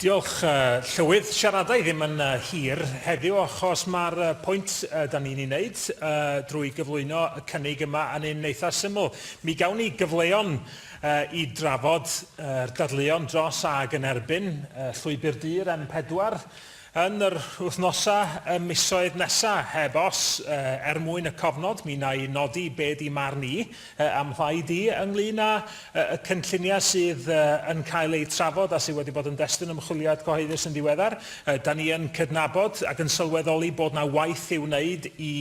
Diolch, Llywydd. Siarada i ddim yn hir heddiw achos mae'r pwynt da ni'n ei wneud drwy gyflwyno y cynnig yma yn un eitha' syml. Mi gawn ni gyfleon i drafod yr dadleuon dros ag yn erbyn Llwybr Du'r M4, yn yr wythnosau a misoedd nesa, heb os, er mwyn y cofnod, mi wna i nodi be di marn i, a'm mhlaid i, ynglŷn â y cynlluniau sydd yn cael eu trafod a sydd wedi bod yn destun ymchwiliad cyhoeddus yn ddiweddar. Da ni yn cydnabod ac yn sylweddoli bod na waith i'w wneud i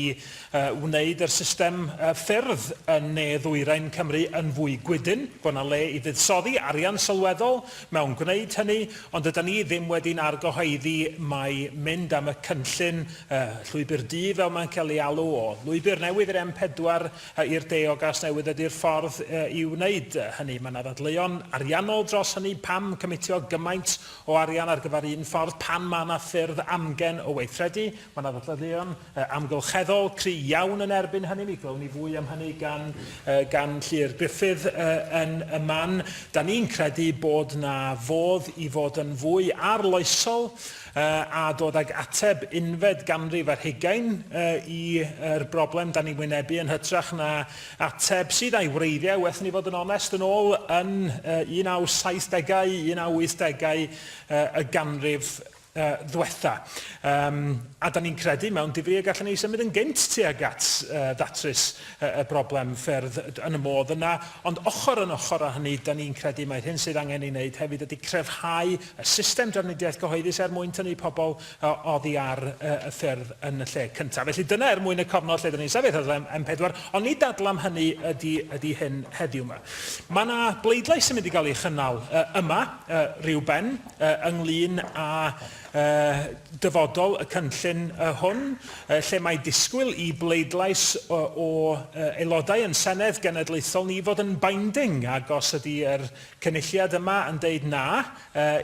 wneud yr system ffyrdd yn ne ddwyrain Cymru yn fwy gwydn, bod na le i fuddsoddi arian sylweddol mewn gwneud hynny, ond dydan ni ddim wedi'n argyhoeddi mai mynd am y cynllun, y Llwybr Du fel mae'n cael ei alw, o lwybr newydd i'r M4 i'r de o Gasnewydd ydy'r ffordd i wneud hynny. Mae yna ddadleuon ariannol dros hynny, pam cymitio gymaint o arian ar gyfer un ffordd pan mae yna ffyrdd amgen o weithredu? Mae yna ddadleuon amgylcheddol cry' iawn yn erbyn hynny. Mi glywwn ni fwy am hynny gan gan Llyr Gruffydd yn y man. Da ni'n credu bod 'na fodd i fod yn fwy arloesol a dod ag ateb unfed ganrif ar hugain i'r broblem da ni'n wynebu yn hytrach na ateb sydd a'i wreiddiau, well 'da ni fod yn onest, yn ôl yn 1970au, 1980au y ganrif uh, ddwetha. Um, a da ni'n credu mewn difri y gallwn ni symud yn gynt tuag at uh, ddatrys uh, y broblem ffyrdd yn y modd yna, ond ochr yn ochr â hynny, da ni'n credu mae'r hyn sydd angen ei wneud hefyd ydy crefhau y system drafnidiaeth gyhoeddus er mwyn tynnu pobl uh, oddi ar uh, y ffyrdd yn y lle cyntaf. Felly dyna er mwyn y cofnod lle da ni'n sefyll ar M4, ond ni dadlam hynny ydy, ydy hyn heddiw yma. Mae yna bleidlais sy'n mynd i gael ei chynnal uh, yma uh, rhyw ben ynglŷn â dyfodol y cynllun hwn, lle mae disgwyl i bleidlais o Aelodau yn Senedd Genedlaethol ni fod yn binding, ac os ydy yr Cynulliad yma yn deud 'na'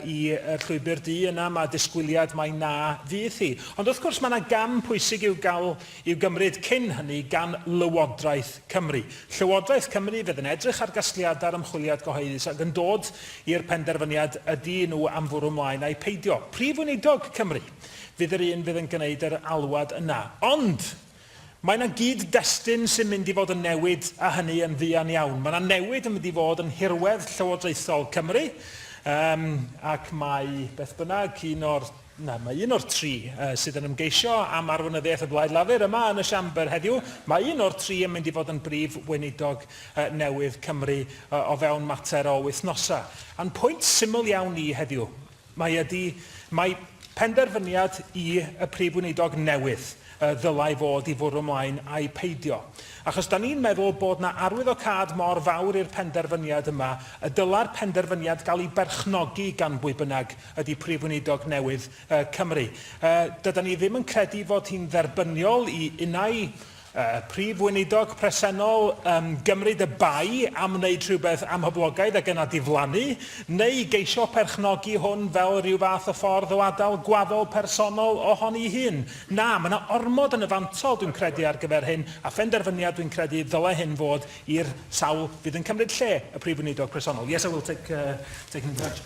i Llwybr Du, yna mae disgwyliad mai 'na' fydd hi. Ond wrth gwrs mae 'na gam pwysig i'w gael i'w gymryd cyn hynny gan Lywodraeth Cymru. Llywodraeth Cymru fydd yn edrych ar gasgliadau'r ymchwiliad gyhoeddus ac yn dod i'r penderfyniad ydy nhw am fwrw mlaen ai peidio. Prif Weinidog Cymru fydd yr un fydd yn gwneud yr alwad yna. Ond mae 'na gyd-destun sy'n mynd i fod yn newid a hynny yn fuan iawn. Mae 'na newid yn mynd i fod yn nhirwedd llywodraethol Cymru yym ac mae beth bynnag un o'r Nawr, mae un o'r tri sydd yn ymgeisio am arweinyddiaeth y Blaid Lafur yma yn y Siambr heddiw. Mae un o'r tri yn mynd i fod yn Brif Weinidog newydd Cymru o fewn mater o wythnosau. A'n pwynt syml iawn ni heddiw, mae ydy, mae penderfyniad i y Prif Weinidog newydd ddylai fod i fwrw mlaen ai peidio. Achos da ni'n meddwl bod na arwyddocâd mor fawr i'r penderfyniad yma y dyla'r penderfyniad gael ei berchnogi gan bwy bynnag ydy Prif Weinidog newydd Cymru. Dydan ni ddim yn credu fod hi'n dderbyniol i unai Prif Weinidog presennol gymryd y bai am wneud rhywbeth amhoblogaidd ac yna diflannu, neu geisio perchnogi hwn fel rhyw fath o ffordd o adael gwaddol personol ohoni'i hun. Na, mae yna ormod yn y fantol, dwi'n credu, ar gyfer hyn, a phenderfyniad, dwi'n credu, ddylai hyn fod i'r sawl fydd yn cymryd lle y Prif Weinidog presennol. Yes, I will take, uh, take an intervention.